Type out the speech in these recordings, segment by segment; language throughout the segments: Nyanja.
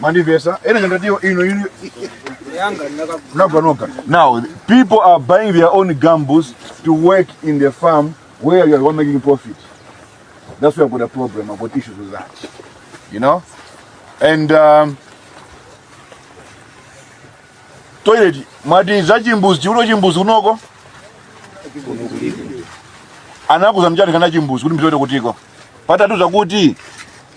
Mandivesa, ena ndio ino ino Naganoka. Now, people are buying their own gambles to work in the farm where you are making profit. That's where I've got a problem. I've got issues with that. You know? And um, toilet, mati za chimbuzi, uno chimbuzi unoko? Anakuza mjani kana chimbuzi, kuti mtoto kutiko. Pata tu zakuti,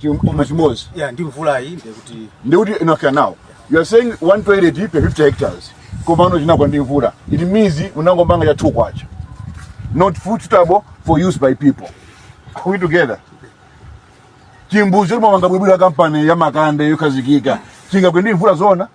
Chim- chimbudzi chimodzi chinagwa ndi mvulayi ndiye kuti ndikuti enough now you are saying one toilet per 50 hectares komano chinagwa ndi mvula it means munangomanga cha two kwacha not suitable for use by people are we together chimbudzi chomanga bwinobwino kampani ya makande yokhazikika chingagwe ndi mvula zoona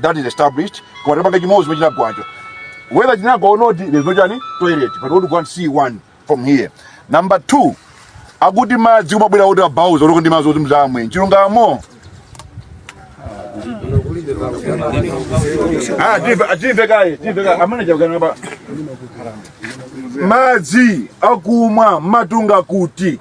that is established koma tapanga chimodzi chomwe chinagwacho whether chinagwa or not there's no toilet but we want to go and see one from here number two akuti madzi akumabwera kuti abauza kuti ndi madzi oti mzamwe chilungamo Ah, timve- ah, timve kaye timve kaye amene chakukana pa madzi akumwa mumatunga kuti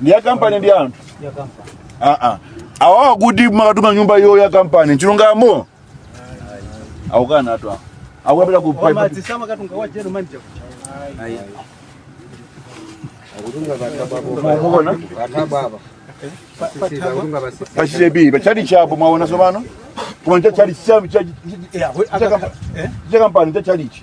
ndi ya kampani ndi anthu aa awa akuti mumakatunga nyumba iyo ya kampani chilungamo akukana anthu awa akukapita ku pipe madzi samakatunga wa general manager. mukona pa chitepi pa chali chapo mwaona tsopano koma cha chali cha cha- cha- cha kampani cha chalichi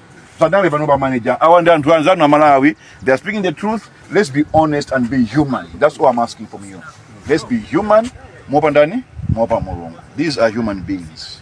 padale pano pa manager awa ndi anthu anzanu a malawi they are speaking the truth let's be honest and be human that's all i'm asking from you let's be human mopa ndani mopa mulungu these are human beings